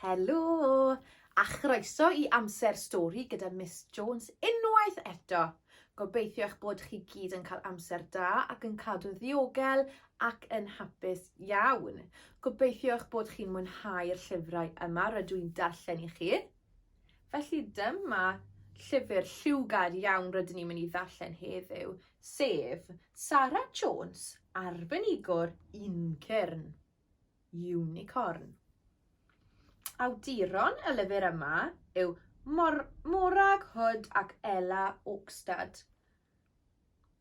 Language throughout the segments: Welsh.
Helo! A chroeso i Amser Stori gyda Miss Jones unwaith eto. Gobeithio eich bod chi gyd yn cael amser da ac yn cadw'n ddiogel ac yn hapus iawn. Gobeithio eich bod chi'n mwynhau'r llyfrau yma rydw i'n darllen i chi. Felly dyma llyfr lliwgar iawn rydyn ni'n mynd i ddarllen heddiw, sef Sarah Jones, Arbenigwr Uncyrn, Unicorn. Awduron y lyfr yma yw Mor Morag Hood ac Ella Oakstad.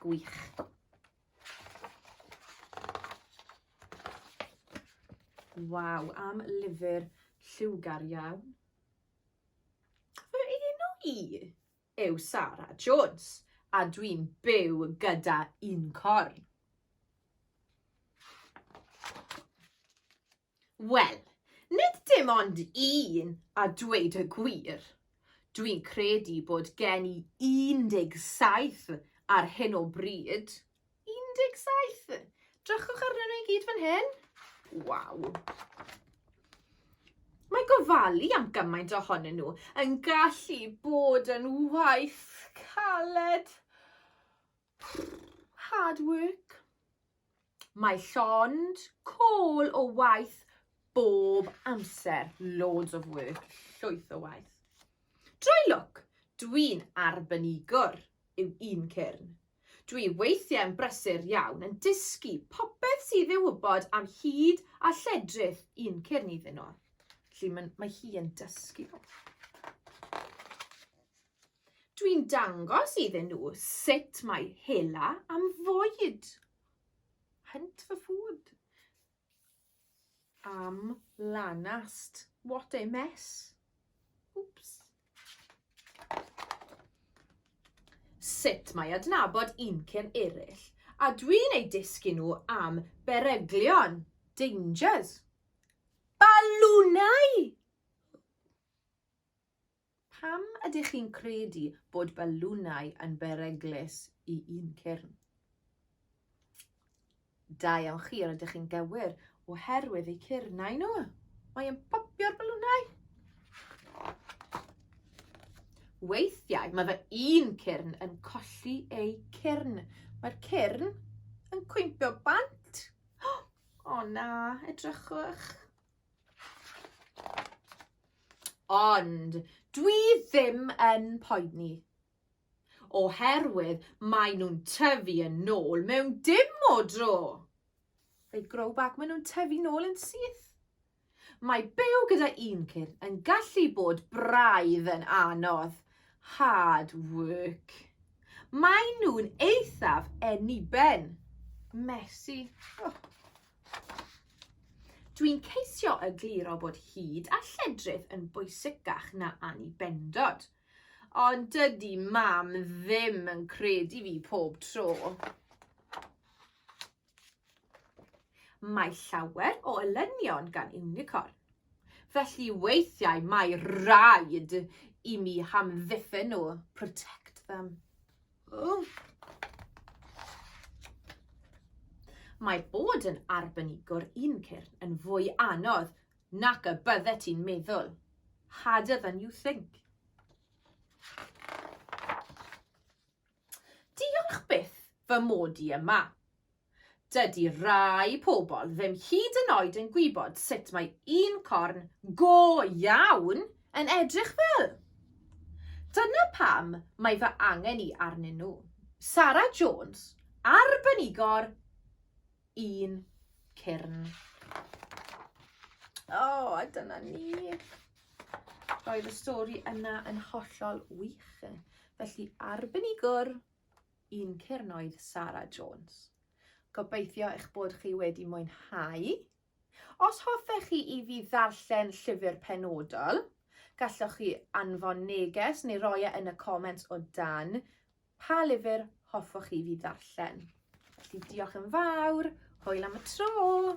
Gwych. Waw, am lyfr lliwgar iawn. Fy enw i yw Sarah Jones a dwi'n byw gyda un corn. Wel, nid dim ond un a dweud y gwir. Dwi'n credu bod gen i 17 ar hyn o bryd. 17! Drychwch arnyn nhw i gyd fan hyn. Waw! Mae gofalu am gymaint ohonyn nhw yn gallu bod yn waith caled. Hard work. Mae llond col o waith bob amser. Loads of work. Llwyth o waith. Drwy lwc, dwi'n arbenigwr yw un cyrn. Dwi weithiau yn brysur iawn yn dysgu popeth sydd ei wybod am hyd a lledrith un cyrn iddyn nhw. Felly mae hi yn dysgu nhw. Dwi'n dangos iddyn nhw sut mae hela am fwyd. Hunt for food. Am lanast. What a mess. Oops. Sut mae adnabod uncyn eraill. A dwi'n ei dysgu nhw am beryglion. Dangers. Balwnau! Pam ydych chi'n credu bod balwnau yn beryglus i un cyrn? Da iawn chi, yr ydych chi'n gywir, oherwydd eu cyrnau nhw. Mae yn popio'r balwnau. Weithiau mae fy un cyrn yn colli eu cyrn. Mae'r cyrn yn cwympio bant. O oh, na, edrychwch. Ond dwi ddim yn poeni. Oherwydd mae nhw'n tyfu yn nôl mewn dim o dro. They grow back, mae nhw'n tyfu nôl yn syth. Mae byw gyda un cur yn gallu bod braidd yn anodd. Hard work. Mae nhw'n eithaf eniben. Messy. Oh. Dwi'n ceisio egluro bod hud a lledrith yn bwysicach na annibendod. Ond dydy mam ddim yn credu fi pob tro. Mae llawer o elynion gan unicorn. Felly weithiau mae rhaid i mi hamddiffyn nhw, protect them. Wff! Mae bod yn arbenigwr un cyrn yn fwy anodd nac y bydde ti'n meddwl. Harder than you think. Diolch byth fy mod i yma. Dydy rhai pobl ddim hyd yn oed yn gwybod sut mae un corn go iawn yn edrych fel! Dyna pam mae fy angen i arnyn nhw. Sarah Jones, arbenigwr un cyrn. O, oh, a dyna ni. Roedd y stori yna yn hollol wych. Felly arbenigwr un cyrn oedd Sara Jones. Gobeithio eich bod chi wedi mwynhau. Os hoffech chi i fi ddarllen llyfr penodol, gallwch chi anfon neges neu roi e yn y comments o dan pa lyfr hoffwch chi fi ddarllen. Felly diolch yn fawr, hwyl am y tro!